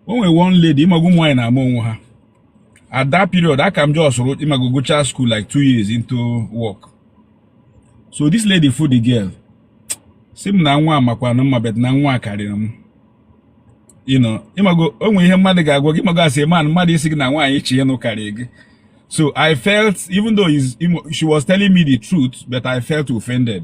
o nwere one lady ịmago ụmụ nwaanyị na-ama onwe ha at that period aka m just wrote ịmago gụchaa school like two years into work so this lady fụ the girl sị m na nwa makwanụ mma but na nwa karịrị m ịnụ ịmago o nwere ihe mmadụ ga-agwa gị ịmago as a man mmadụ ịsị gị na nwaanyị ị chọ ịnụ karịrị gị so i felt even though she was telling me the truth but i felt offended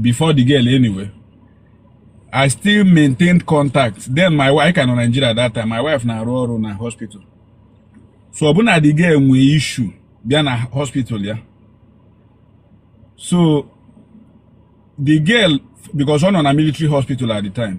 before the girl anyway i still maintained contact then my wife ka nọ Nigeria that time my wife na-arụ ọrụ na hospital so ọ bụ na the girl nwee issue bịa na hospital ya so the girl because ọ nọ na military hospital at the time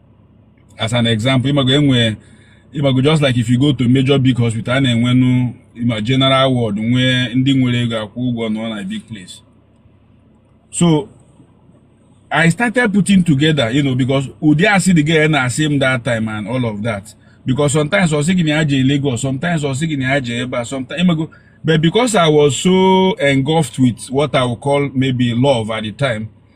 as an example ịmago enwe ịmago just like if you go to major big hospital a na-enwenu ma general ward nwee ndị nwere ego akwụ ụgwọ nọ na big place so I started putting together, you know, because Udi see the girl and I see him that time and all of that. Because sometimes I was thinking I in Lagos, sometimes I was thinking I Eba, sometimes I go. But because I was so engulfed with what I would call maybe love at the time,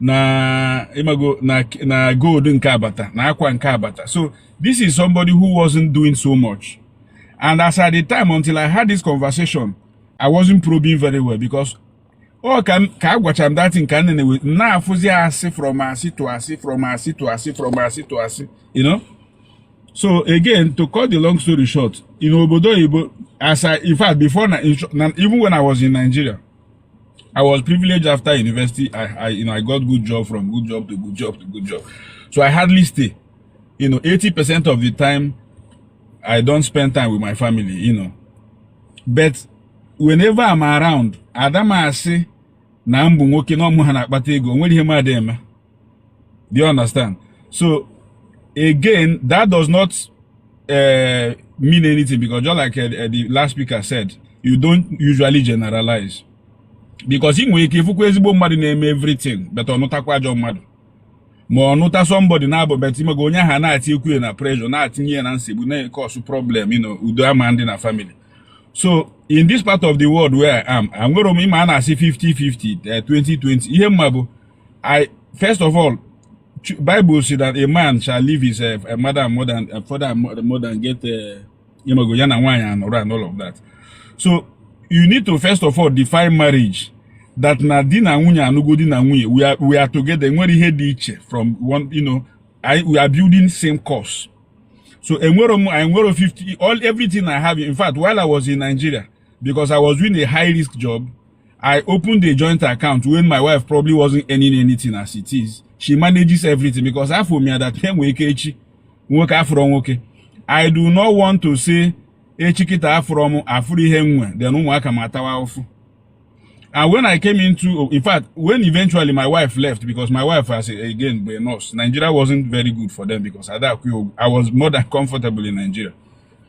na ịmago na na gold nke a bata na akwa nke a bata so this is somebody who wasn't doing so much and as at the time until i had this conversation i wasn't probing very well because ọ ka ka a gwacha m that thing ka nne na-ewe na-afụzi asị from asị to asị from asị to asị from asị to asị you know so again to cut the long story short in obodo oyibo as i in fact before na even when i was in nigeria I was privileged after university. I, I, you know, I got good job from good job to good job to good job. So I hardly stay. You know, 80% of the time, I don't spend time with my family, you know. But whenever I'm around, Adama say, na mbụ nwoke na ọmụ ha na-akpata ego, nwere ihe mmadụ eme. Do you understand? So again, that does not uh, mean anything because just like uh, uh, the last speaker said, you don't usually generalize. Because i nwere ike ịfụkwa ezigbo mmadụ na-eme everything but ọ nụtakwa ajọ mmadụ ma ọ nụta somebody na-abụ but ịmago onye ahụ na-etinyekwu ya na pressure na-etinye ya na nsogbu na-ecause problem you know, udo ama adị na family so in this part of the world where I am, I'm going to na-asị 50-50 20-20 eh, ihe m ma bụ I first of all, Bible says that a man shall leave his uh, a mother and mother and a father and mother, mother and get uh, you know, and and all of that. So you need to first of all define marriage. That na di na nwunye anụgo di na nwunye we are we are together nwere ihe dị iche from one you know I, we are building same course. So enwere m enwere 50 all everything I have in fact while I was in Nigeria because I was doing a high risk job. I opened a joint account when my wife probably wasn't earning anything as it is. She manages everything because afọ m ya that time wee ke echi nwoke afụrọ nwoke. I do not want to say echi kịta afụrọ m afụrụ ihe nwe then ụmụaka m atawa ụfụ. And when I came into, in fact, when eventually my wife left, because my wife, as again, a nurse, Nigeria wasn't very good for them because at that, I was more than comfortable in Nigeria.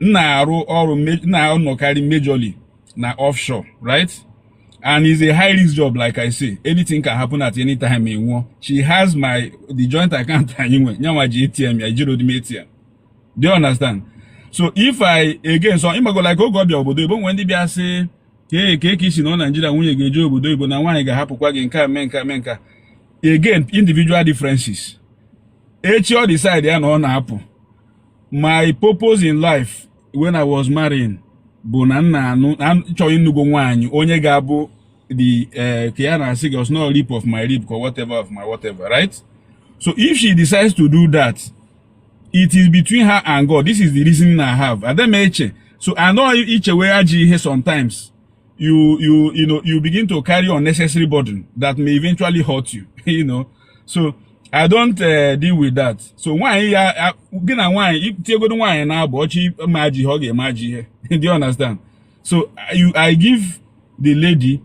m na-arụ ọrụ na-anọkarị majorly na offshore right and it's a high risk job like i say anything can happen at any time ị nwụọ she has my the joint account anyị nwe nyanwa ji atm ya ejirọdị m atm do you understand so if i again so ịmago like oge ọ bịa obodo oyibo e nwee ndị bịa sị kee ka ị ga-esi nọ naijiria nwunye gị eje obodo oyibo na nwaanyị ga-ahapụkwa gị nke a mee nke a mee nke a again individual differences echi ọ decide ya na ọ na-apụ my purpose in life when I was marrying bụ na nna anụ chọrọ ịnụgo nwaanyị onye ga-abụ the eh, ka ya na-asị gị ọsọ no rib of my rib or whatever of my whatever right so if she decides to do that it is between her and God this is the reason I have adị m eche so anọghị ichewe ajọ ihe sometimes you you you know you begin to carry unnecessary burden that may eventually hurt you you know so i don't uh, deal with that so nwaanyị ya gị na nwaanyị tiegodo nwaanyị na-abụ ọchị ma ji ihe ọ ga-eme ajị ihe do you understand so you i give the lady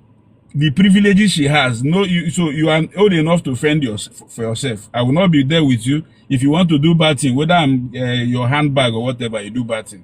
the privileges she has no you, so you are old enough to fend your, for yourself i will not be there with you if you want to do bad thing whether i'm uh, your handbag or whatever you do bad thing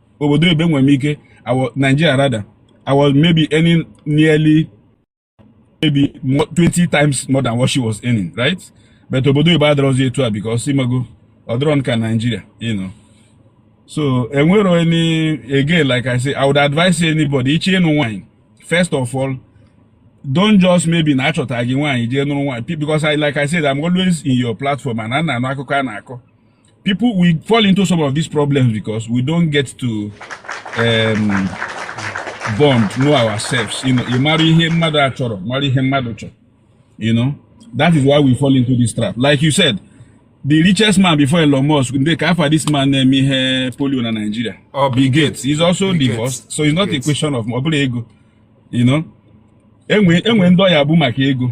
obodo oyibo enwere m ike Nigeria rather I was maybe earning nearly maybe 20 times more than what she was earning right but obodo oyibo adịrọzi etu a because ịmago ọ dịrọ ka Nigeria you know so enwere any again like I say I would advise anybody ị chọ ịnụ nwanyị first of all don't just maybe na a chọta gị nwaanyị jee nụrụ nwaanyị because I like I said I'm always in your platform and a na m anụ akụkọ a na-akọ people we fall into some of these problems because we don't get to um, bond know ourselves you know you marry him mother chọrọ marry him mother chọrọ you know that is why we fall into this trap like you said the richest man before Elon Musk they ka afa this man name eh, ihe polio na Nigeria oh, Bill Gates he's also Bill divorced Gates. so it's not Gates. a question of ọ bụla ego you know enwe enwe ndị ọya bụ maka ego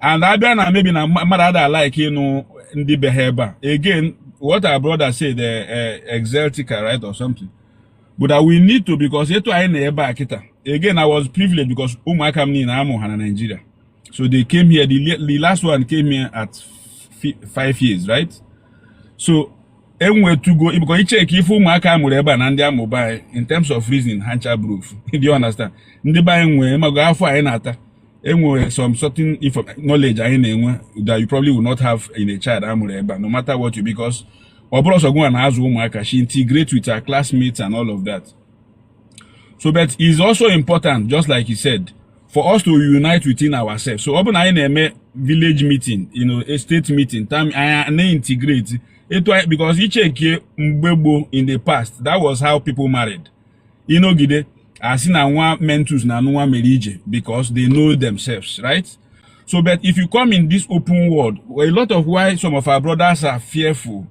and abịa na maybe na mmadụ ada like ịnụ ndị be ha ebe a again what our brother said uh, uh, exeltica right or something but that we need to because etu anyị nọ ebe a kịta again i was privileged because ụmụaka m niile amụ ha na Nigeria so they came here the, the last one came here at five years right so enwetugo ịbụkọ iche ka ife ụmụaka a mụrụ ebe a na ndị a mụ be anyị in terms of reason ha ncha bụrụ ofu do you understand ndị be anyị nwee imago afụfụ anyị na-ata enwere some certain knowledge anyị na-enwe that you probably will not have in a child amụrụ ebe a no matter what you because ọ bụrọ sọ gịnwa na-azụ ụmụaka she integrate with her classmates and all of that so but it's also important just like you said for us to unite within ourselves so ọ bụ na anyị na-eme village meeting you know a state meeting time anyị na-integrate etu anyị because ichekie mgbe gboo in the past that was how people married ịnọgide asị na nwa mentus na nwa mere ije because they know themselves right so but if you come in this open world a lot of why some of our brothers are fearful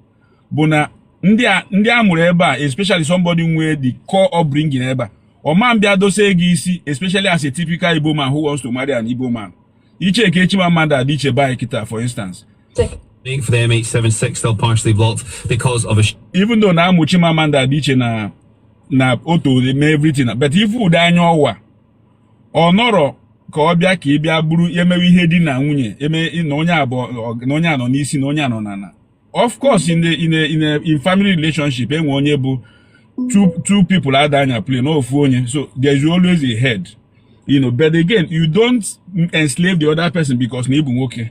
bụ na ndị a mụrụ ebe a especially somebody nwee the core upbringing ebe a ọma abịa dosie gị isi especially as a typical Igbo man who wants to marry an Igbo man iche ka echi ma mmadụ adị iche bike taa for instance Take Waiting for the MH76 still partially blocked because of a. Even though na amuchi mama ndị adị iche na na otu mee everything but ife dị anya ọwa ọ nọrọ ka ọ bịa ka ị bịa bụrụ emewe ihe di na nwunye eme na onye abụọ na onye nọ n'isi na onye nọ n'ala of course in the in the in the in family relationship enwe onye bụ two two people ada anya plane ofu onye so there is always a head you know but again you don't enslave the other person because na ịbụ nwoke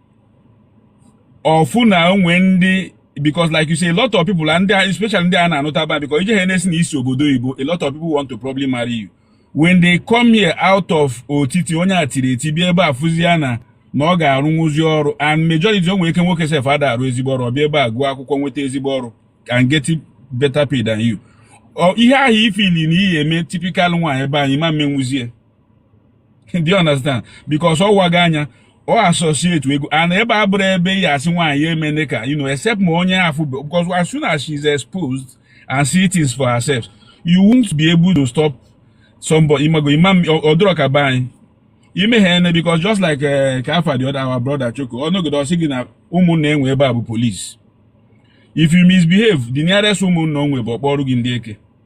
ọfụ na o nwe ndị because like you say a lot of people and especially ndị a na-anụta ba because ije ha na-asị na isi obodo oyibo a lot of people want to probably marry you when they come here out of otiti onye a tiri eti bịa ebe a fụzia na na ọ ga-arụnwuzi ọrụ and majority o nwere ike nwoke sef ada arụ ezigbo ọrụ ọbịa ebe a gụọ akwụkwọ nweta ezigbo ọrụ and get better pay than you ihe ahụ ị feel na ị ya-eme typical nwaanyị be anyị ịma emenwuzie do you understand because ọ wago anya ọ associatego and ebe a abụrọ ebe ị ya-asị nwaanyị emene ka you know except ma onye afụ because as soon as she is exposed and see things for herself you won't be able to stop somebody imago imam ọ dịrọ ka be anyị imehie ene because just like eh, ka afa the other our brother choko ọnọgide ọsị gị na ụmụnna enwe ebe a bụ police if you misbehave the nearest ụmụnna o nwe bụ ọ kpọọrọ gị ndị eke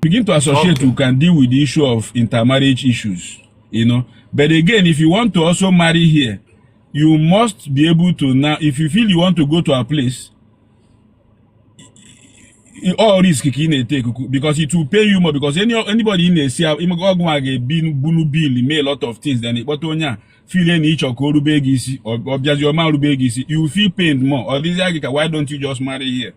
begin to associate okay. you can deal with the issue of intermarriage issues you know but again if you want to also marry here you must be able to now if you feel you want to go to a place all risk ka ị na-ete because it will pain you more because any anybody ị na-esi ọgwụ a ga-ebi bulu bill mee a lot of things then ịkpọta onye a feel na ịchọ ka o rube gị isi ọ bịazi ọ ma rube gị isi you feel pain more ọ dịzịa gị ka why don't you just marry here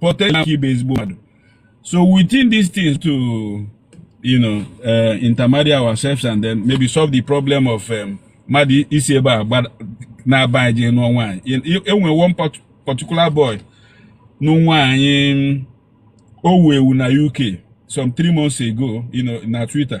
potential ịbụ ezigbo mmadụ so within these things to you know uh, intermarry ourselves and then maybe solve the problem of um, mmadụ um, isi ebe a naa be anyị jee nụọ nwaanyị e nwe one particular boy nụ nwaanyị o wu ewu na UK some three months ago you know, na Twitter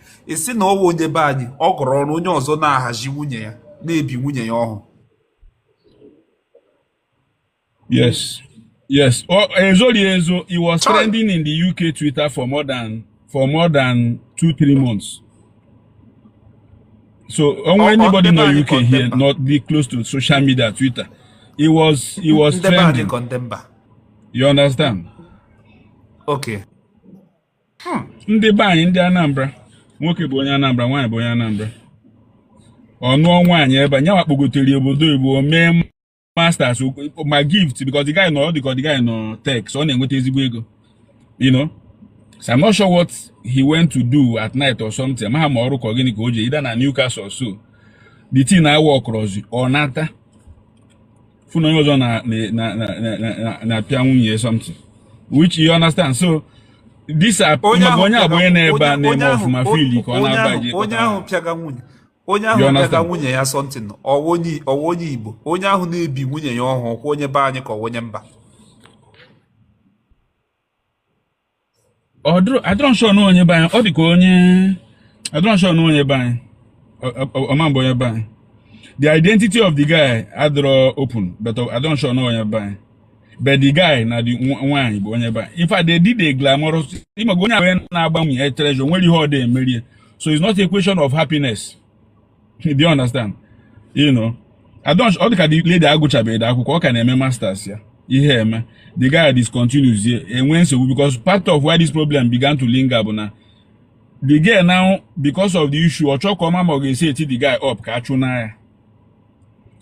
a sị na ọ wụ onye be anyị ọ gara ọrụ onye ọzọ na-ahazi nwunye ya na-ebi nwunye ya ọhụ yes yes e zorọ ya ezo he was trending in the UK Twitter for more than for more than two three months so o nwe anybody nọ UK here not be close to social media Twitter he was he was trending you understand okay Hmm. ndị be anyị ndị Anambra nwoke bụ onye Anambra nwaanyị bụ onye Anambra ọ nụọ nwaanyị ebe anyị wee kpọgotere obodo oyibo mee masters ma gift because the guy nọ ọ dịka the guy nọ tech ọ na-enweta ezigbo ego you know so I'm not sure what he went to do at night or something amaha m ma ọrụ ka ọ gịnị ka o ji ida na Newcastle so the thing a work rọzi ọ nata fụ na onye ọzọ na-apịa nwunye something which you understand so this onye agba onye nọ ebe a na-eme ọfụma feel ka ọ na-agbaji onye ahụ pịaga nwunye onye ahụ pịaga nwunye ya something ọ wụ onye igbo onye ahụ na-ebi nwunye ya ọhụ wụkwa onye be anyị ka ọ wụ onye mba ọ dịrọ adịrọ m sure na onye be anyị ọ dị ka onye adịrọ m sure na onye be anyị Ọ- ọ- ọ ma-abụ onye be anyị the identity of the guy adịrọ open but ọ- adịrọ m sure na onye be anyị but the guy na the nwa- nwaanyị bụ onye be anyị in fact they did a glamorous ịmaga onye abụọ na-agba nwunye ya traditional wedding ọ dị emerie so it's not a question of happiness do you understand you know I don't ọ dịka the lady agụchabeghị akwụkwọ ọ ka na-eme masters ya ihe eme the guy discontinues ya enwe nsogbu because part of why this problem began to linger bụ na the girl now because of the issue ọ chọọ ka ọ ma ma ọ ga-eseti the guy up ka a chụnaa ya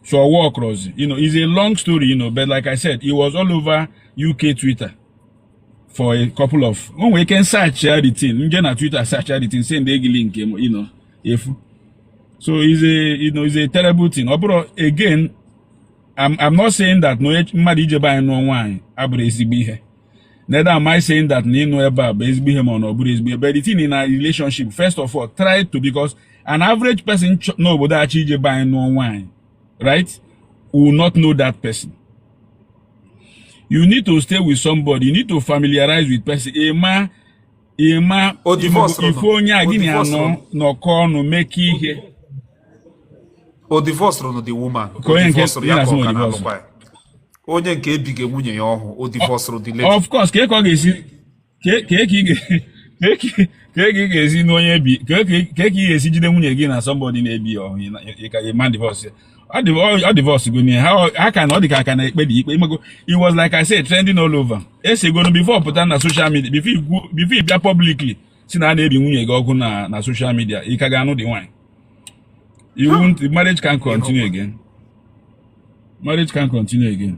so ọ work rọzi you know it's a long story you know but like i said it was all over uk twitter for a couple of o nwere ike search ya the thing m jee na Twitter search ya the thing send gị link you know efu so is a you know is a terrible thing but again I'm, I'm not saying that na onye mmadụ ije be anyị nụọ nwaanyị abụrọ ezigbo ihe neither am I saying that na ịnụ ebe a bụ ezigbo ihe ma ọ na ọ bụrọ ezigbo ihe but the thing in a relationship first of all try to because an average person n'obodo a chọ ije be anyị nụọ nwaanyị right will not know that person you need to stay with somebody you need to familiarize with person ịma ịma ife onye a gị na ya nọ nọkọ ọnụ meke ihe o divorce rụrụ the woman o divorce rụrụ ya ka ọ ka na-alụkwa ya onye nke e biri nwunye ya ọhụ o divorce rụrụ the lady of course ka ị ka ọ ga-esi ka ị ga-esi n'onye bi kee ka ị ga-esi jide nwunye gị na somebody na-ebi ọhụ ị ma divorce ọ divorce go n'ihe ha ka na ọ dị ka a ka na-ekpe the ikpe ị mago it was like I said trending all over esegonu before pụta na social media before ị bịa publicly si na a na-ebi nwunye gị ọkụ na na social media ị ka ga-anụ the nwaanyị you won't marriage can't continue again marriage can't continue again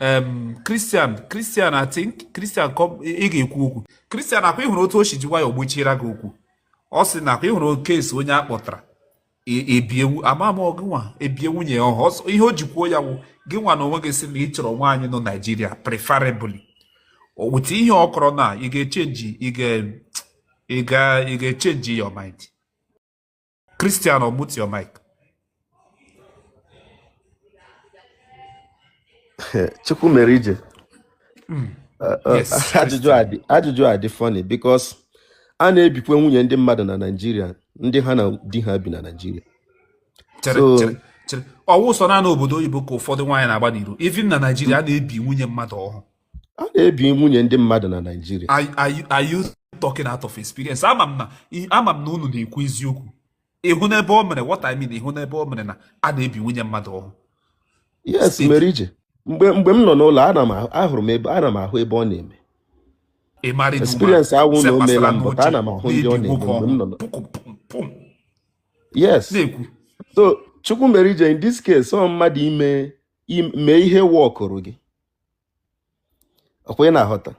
em Christian Christian I think Christian kọ- ị ga-ekwu okwu Christian akwa ị hụrụ otu o si ji nwayọọ gbochiere gị okwu ọ sị na akwa ị hụrụ ka e si onye a kpọtara e- ebiewu ama m gị nwa ebie nwunye ya ọhụ Ọsọ- ihe o ji kwuo ya wụ gị nwa na onwe gị sị na ị chọrọ nwaanyị nọ Naịjirịa preferably with ihe ọ kọrọ na ị ga-echenji ị ga- ị ga- ị ga-echenji your mind Christian unmute your mic. Chukwumerije. Hmm. Uh, uh, yes, ajụjụ a dị ajụjụ a dị funny because a na-ebikwa nwunye ndị mmadụ na Naịjirịa ndị ha na di ha bi na Naịjirịa. Chere chere chere ọ wụ sọ naanị obodo oyibo ka ụfọdụ nwaanyị na-agba n'iro even na Naịjirịa a na-ebi nwunye mmadụ ọhụ. a na-ebi nwunye ndị mmadụ na Naịjirịa are you talking out of experience ama m na ama m na unu na-ekwu eziokwu ị hụna ebe o mere what I mean ị hụna ebe o mere na a na-ebi nwunye mmadụ ọhụ yes Merije mgbe mgbe m nọ n'ụlọ ana m ahụrụ m ebe ana m ahụ ebe ọ na-eme experience awụ na o meela m but ana m ahụ ndị ọ na-eme mgbe m nọ n'ụlọ yes so Chukwumerije in this case ọ mmadụ ime mee ihe workụrụ gị ọkwa ị na-aghọta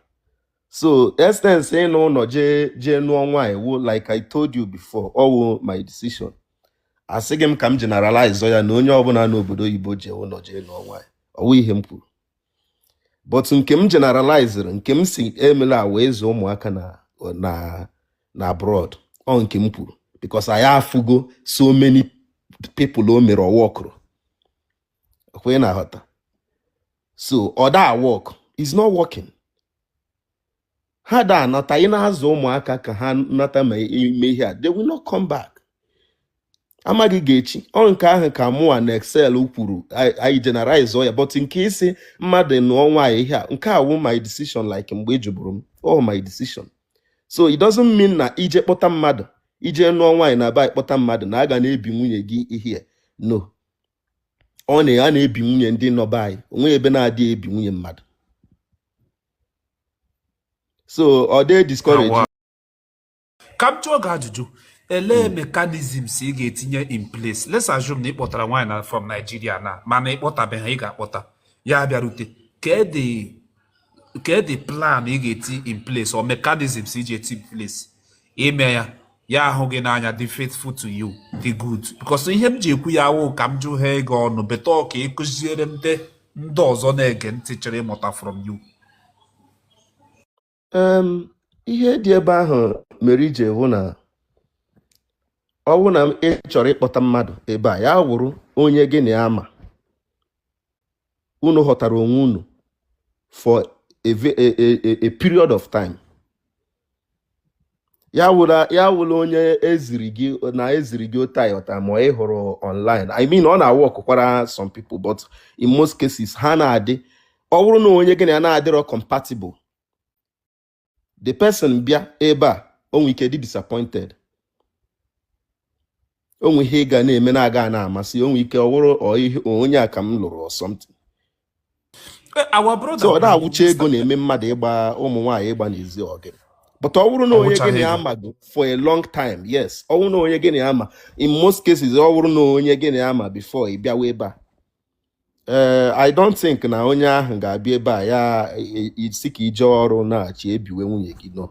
so essence ịna ụnọ jee jee nụọ nwaanyị wụ like I told you before ọ wụ my decision asịghị m ka m generalize ya na onye ọbụna nọ obodo oyibo jee ụnọ jee nụọ nwaanyị ọ wụ ihe m kwuru but nke m generalizere nke m sị emela wụ ịzụ ụmụaka na na na abroad ọ nke m kwuru because anyị afụgo so many people o mere ọ workụrọ kwa ị na-aghọta so ọ da work is not working ha da anata ị na-azụ ụmụaka ka ha nata ma ime ihe a they will not come back amaghị ga-echi ọ nke ahụ ka mụa na excel kwuru anyị generalize ya but nke isi mmadụ nụọ nwaanyị ihe a nke a wụ my decision like mgbe ị jụburu m ọ my decision so it doesn't mean na ije kpọta mmadụ ije nụọ nwaanyị na aba kpọta mmadụ na aga na-ebi nwunye gị ihe no ọ na a na-ebi nwunye ndị nọ be anyị onwe ebe na-adị ebi nwunye mmadụ so dee ka m jụọ gị ajụjụ elee mechanisms ị ga-etinye in place let's assume na ị kpọtara nwaanyị na from Nigeria na mana ị kpọtabeghị ị ga-akpọta ya abịarute kedị kedị plan ị ga-eti in place or mechanisms iji eti in place ime ya ya ahụ gị n'anya dị faithful to you dị good because ihe m ji ekwu ya awụ ka m jụ ha ego ọnụ but ọ ka ị kụziere ndị ndị ọzọ na-ege ntị chọrọ ịmụta from you ihe dị about marriage wụ na ọ wụ na ị chọrọ ịkpọta mmadụ ebe a ya wụrụ onye gị na ya ma unu ghọtara onwe unu for a, a, a, a period of time ya awụla onye eziri gị na eziri gị otu aghọta ma ị hụrụ online i mean ọ na-aworkụkwara some people but in most cases ha na-adị ọ bụrụ na onye gị na ya na-adịrọ compatible the person bịa ebe a onwe ike dị disappointed onwe ihe ị ga na-eme na-aga na-amasị onwe ike ọ wụrụ onye a ka m lụrụ or something so ọ da awụcha ego na-eme mmadụ ịgba ụmụ nwaanyị ịgba n'ezi ọgị but ọ wụrụ na onye gị na ya ma for a long time yes ọ wụrụ na onye gị na ya ma in most cases ọ wụrụ na onye gị na ya ma before ị bịawa ebe a ee eh, i don't think na onye ahụ ga-abịa ebe a ya e, e, sị ka ị jee ọrụ na-achị ebiwe nwunye gị nọ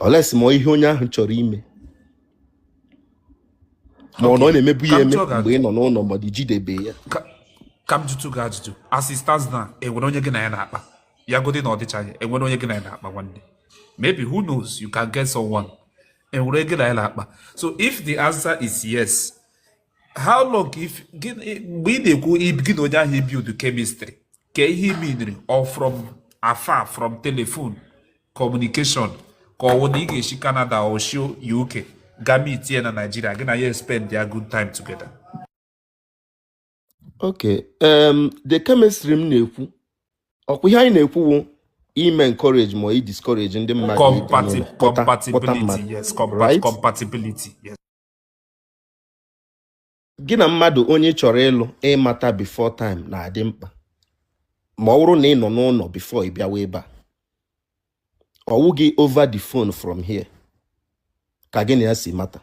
unless ị ma ihe onye ahụ chọrọ ime ma ọ na ọ na-emebu ya eme mgbe ị nọ n'ụlọ ma dị jidebe ya ka m jụtụ gị ajụjụ as it stands now enwere onye gị na ya na-akpa ya godi na ọdịchaghị enwere onye gị na ya na-akpa nwanne maybe who knows you can get someone enwere gị na ya na-akpa so if the answer is yes how long if gịnị mgbe ị na-ekwu ib- gị na onye ahụ ibuild chemistry ka ihe ị meaniri ọ from afar from telephone communication ka ọwụ na ị ga-esi Canada or si UK ga meet ya na Nigeria gị na ya espendịa good time together okay um, the chemistry m na-ekwu ọkwa ihe anyị na-ekwu bụ ime encourage ma ọ i discourage ndị mmadụ ịbanye Compati- na kpọta kpọta compatibility mmadụ yes compa- right compatibility yes gị na mmadụ onye ị chọrọ ịlụ ịmata before time na-adị mkpa ma ọ bụrụ na ị nọ n'ụlọ before ị bịawa ebe a ọwụghị over the phone from here ka gị na ya si mata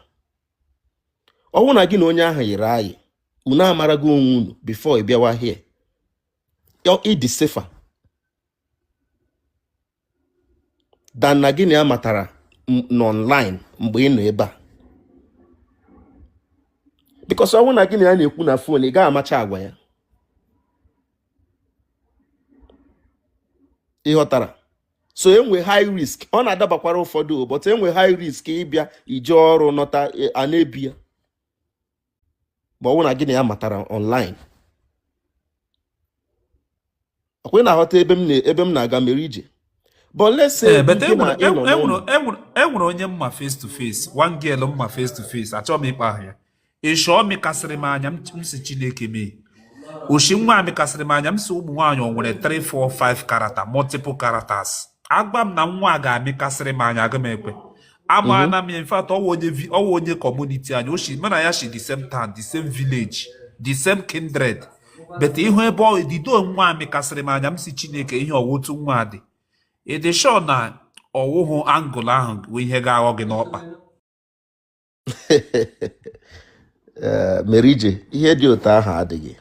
ọwụ na gị na onye ahụ yiri ayị unu amarago onwe unu before ị bịawa here ị dị safer than na gị na ya matara n'online mgbe ị nọ ebe a because ọwụrụ na gị na ya na-ekwu na phone ị gaghị amacha agwa ya ị ghọtara so enwe high risk ọ na-adabakwara ụfọdụ but enwe high risk ịbịa ije ọrụ nọta e, a na-ebi ya ma ọ bụrụ na gị na ya matara online ọkwa ị na-aghọta ebe m na- ebe m na-aga mere ije but let's say Ee, but gị na enwere ị nọ enwere- n'ụlọ enwere- enwere- enwere onye m ma face to face one girl m ma face to face achọghị m ịkpa aha ya ishi ọ mịkasịrị m anya m si chineke mee oshi nwa a mịkasịrị m anya m si ụmụ nwaanyị o nwere 3 4 5 character multiple characters a gwa m na nwa a ga-amịkasịrị m anya agaghị m ekwe amaana m ya in fact ọwụ onye vi- ọwụ onye community anyị o mụ na ya si the same town the same village the same kindred but ihu ebe ọ dido nwa a mịkasịrị m anya m si chineke ihe ọwụ otu nwa a dị ị dị sure na ọwụhụ angle ahụ bụ ihe ga-aghọ gị n'ọkpa Ee, mere ije ihe dị otu ahụ adịghị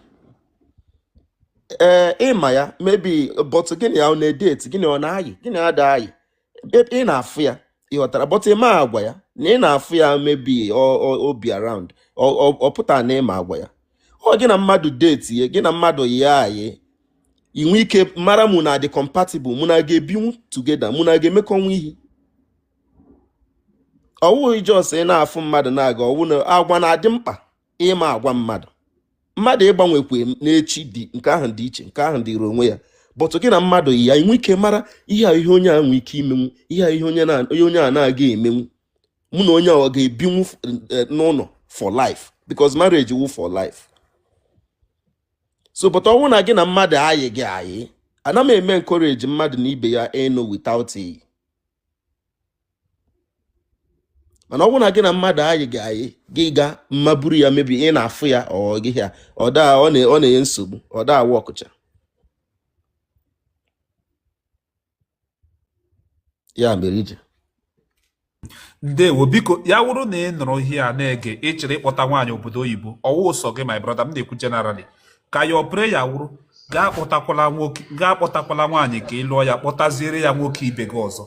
ee ị ma ya maybe but gị na ya ọ na-edeti gị na ya na-ayị gị na ya ada ayị ị na-afụ ya ị ghọtara but ị ma agwa ya na ị na-afụ ya maybe o bi around ọ pụtara na ị ma agwa ya ọ gị na mmadụ detie gị na mmadụ yịa ayị i nwe ike mara mụ na ya dị compatible mụ na ya ga-ebinwu together mụ na ya ga-emekọnwu ihe ọwụghị just ị na-afụ mmadụ na-aga ọwụ na agwa na-adị mkpa ịma agwa mmadụ mmadụ ịgbanwekwe n'echi dị nke ahụ dị iche nke ahụ dịrị onwe ya but gị na mmadụ yịa i nwe ike mara ihe a ihe onye a nwee ike imenwu ihe a ihe onye a na-aga emenwu mụ na onye a ga-ebinwu eh, n'ụlọ for life because marriage wu for life so but ọwụ na gị na mmadụ ayịghị ayị anaghị m eme encourage mmadụ na ibe ya ịnụ without iyi mana ọ bụrụ na gị na mmadụ ayịghị ayị gị ga mma buru ya maybe ị na-afụ ya ọ gị ya ọ daa ọ na-enye nsogbu ọ daa awa ọkụcha ya mere ije ndewo biko ya wụrụ na ị nụrụ ihe a na-ege ị chọrọ ịkpọta nwaanyị obodo oyibo ọwụ ụsọ gị my brother m na-ekwu generally ka ya ọpụrụ ya wụrụ gị akpọtakwala nwoke gị akpọtakwala nwaanyị ka ị lụọ ya kpọtaziere ya nwoke ibe gị ọzọ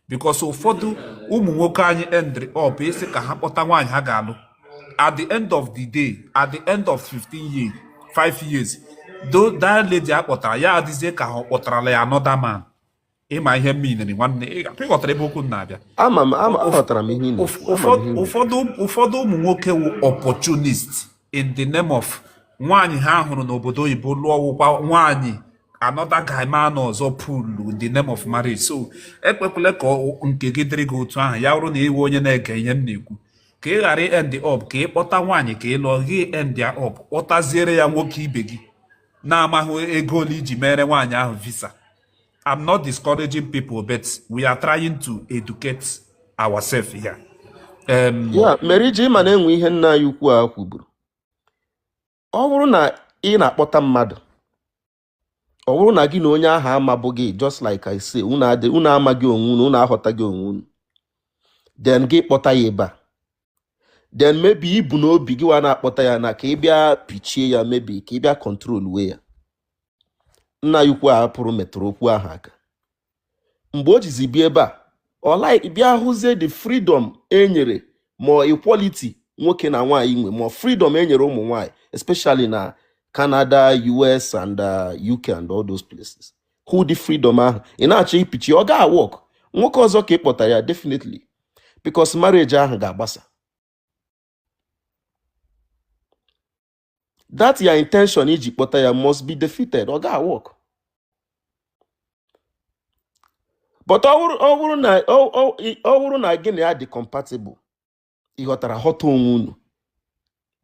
because ụfọdụ ụmụ nwoke anyị endrị up ịsị ka ha kpọta nwaanyị ha ga-alụ at the end of the day at the end of 15 years 5 years do that lady a kpọtara ya adịzie ka ha ọ kpọtarala ya another man ị ma ihe mere nwanne ị ghọtara ebe okwu m na-abịa ụfọdụ ụmụ nwoke wụ opportunist in the name of nwaanyị ha hụrụ n'obodo oyibo lụọ wụkwa nwaanyị another guyman ọzọ pụlu in the name of marriage so ekwekwele ka nke gị dịrị gị otu ahụ ya bụrụ na ị wụ onye na-ege ihe m na-ekwu ka ị ghara end up ka ị kpọta nwaanyị ka ị lụọ gị endie up kpọtaziere ya nwoke ibe gị na-amaghị ego ole i ji meere nwaanyị ahụ visa I'm not discouraging people, but we are trying to educate ourselves here. Um, ya mere iji ị ma na e nwe ihe nna anyị ukwu a kwuburu ọ bụrụ na ị na-akpọta mmadụ ọ bụrụ na gị na onye ahụ amabughị just like I say unu adị unu amaghị onwe unu unu aghọtaghị onwe unu then gị kpọta ya ebe a then maybe i bu n'obi gịwa na-akpọta ya na ka ị bịa pichie ya maybe ka ị bịa controlwe ya nna anyị ukwu a pụrụ metụrụ okwu ahụ aka mgbe o jizi bịa ebe a ọ like bịa hụzie the freedom e nyere ma ọ equality nwoke na nwaanyị nwe ma ọ freedom e nyere ụmụ nwaanyị especially na Canada US and uh, UK and all those places hụ the freedom ahụ ị na-achọ ipichi ọ gaa work nwoke ọzọ ka ị kpọta ya definitely because marriage ahụ ga-agbasa that your intention iji kpọta ya must be defeated ọ gaa work but ọ bụrụ na ọ bụrụ na gị na ya dị compatible ị ghọtara ghọta onwe unu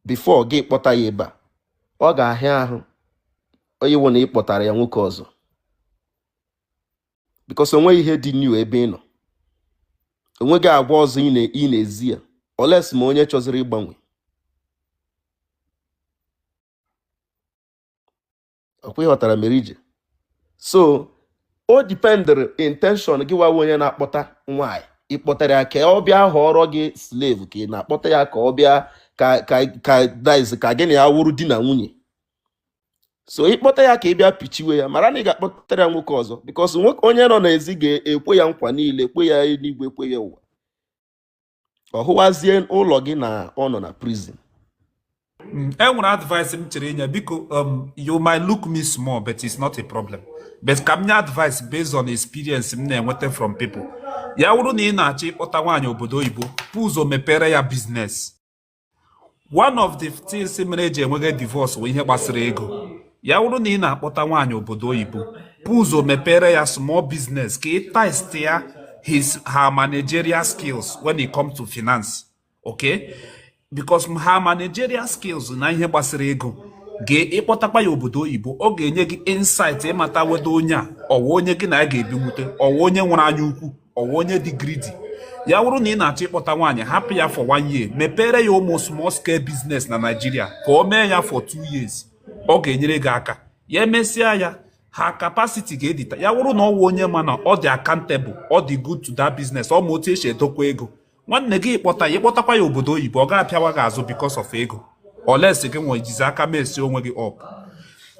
before gị kpọta ya ebe a ọ ga-ahịa ahụ ịwụ na ị kpọtara ya nwoke ọzọ because o nweghị ihe dị new ebe ị nọ o nweghị agwa ọzọ ị na-ezi ya unless ma onye chọzịrị ịgbanwe ọ kwa ị ghọtara mere ije so o dependịrị intention gịwa wụ onye na-akpọta nwaanyị ị kpọtara ya ka ọ bịa ghọọrọ gị slave ka ị na-akpọta ya ka ọ bịa ka ka ka diz ka gị na ya wụrụ di na nwunye so ị kpọta ya ka ị bịa pichiwe ya mara na ị ga-akpọtara ya nwoke ọzọ because nwoke onye nọ n'ezi ga-ekwe ya nkwa niile kwe ya eluigwe kwe ya ụwa ọ hụwazie ụlọ gị na ọ nọ na prison Mm, e nwere advice m chọrọ inye biko um, you might look me small but it's not a problem but ka m nye advice based on experience m na-enweta from people ya wụrụ na ị na-achọ ịkpọta nwaanyị obodo oyibo buo ụzọ mepere ya business one of the things mere eji enwege divorce bụ ihe gbasara ego ya wụrụ na ị na-akpọta nwaanyị obodo oyibo bu ụzọ mepere ya small business ka ị test ya his her managerial skills when it comes to finance okay because her managerial skills na ihe gbasara ego ga-ịkpọtakwa ya obodo oyibo ọ ga-enye gị insight ịmata whether onye a ọ wụ onye gị na ya ga-ebinwute ọ wụ onye nwere anya ukwu ọ wụ onye dị greedy ya wụrụ na ị na-achọ ịkpọta nwaanyị hapụ ya for one year mepere ya ụmụ small scale business na Naịjirịa ka o mee ya for two years ọ ga-enyere gị aka ya emesịa ya her capacity ga-edita ya wụrụ na ọ wụ onye ma na ọ dị accountable ọ dị good to that business ọ ma otu esi edokwa ego nwanne gị ịkpọta ya ịkpọtakwa ya obodo oyibo ọ ga-apịawa gị azụ because of ego unless gị nwa jizi aka mess onwe gị up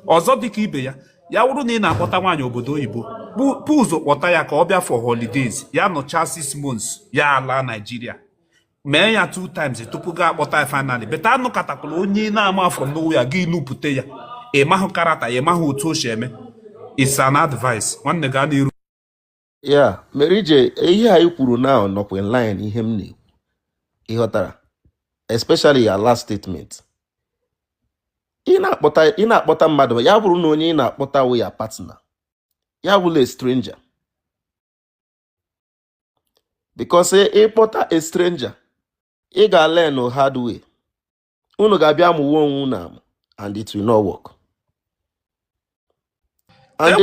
ọzọ dịka ibe ya ya wụrụ na ị na-akpọta nwaanyị obodo oyibo bu ụzọ kpọta ya ka ọ bịa for holidays ya nọchaa six months ya alaa Naịjirịa mee ya two times tupu gị akpọta ya finally but anọkatakwala onye na-ama from nowhere gị nupụta ya ị mahụ character ya ị mahụ otu o si eme it's an advice nwanne gaa n'iru ya mere ije ihe anyị kwuru na nọkwa in line ihe m na-ekwu ịghọtara especially your last statement ị na-akpọta mmadụ ya bụrụ na onye ị na-akpọta wụ your partner ya awụla stranger because ị kpọta a stranger ị ga-learn hard way unu ga-abịa amụwa onwe unu amụ and it will not work. And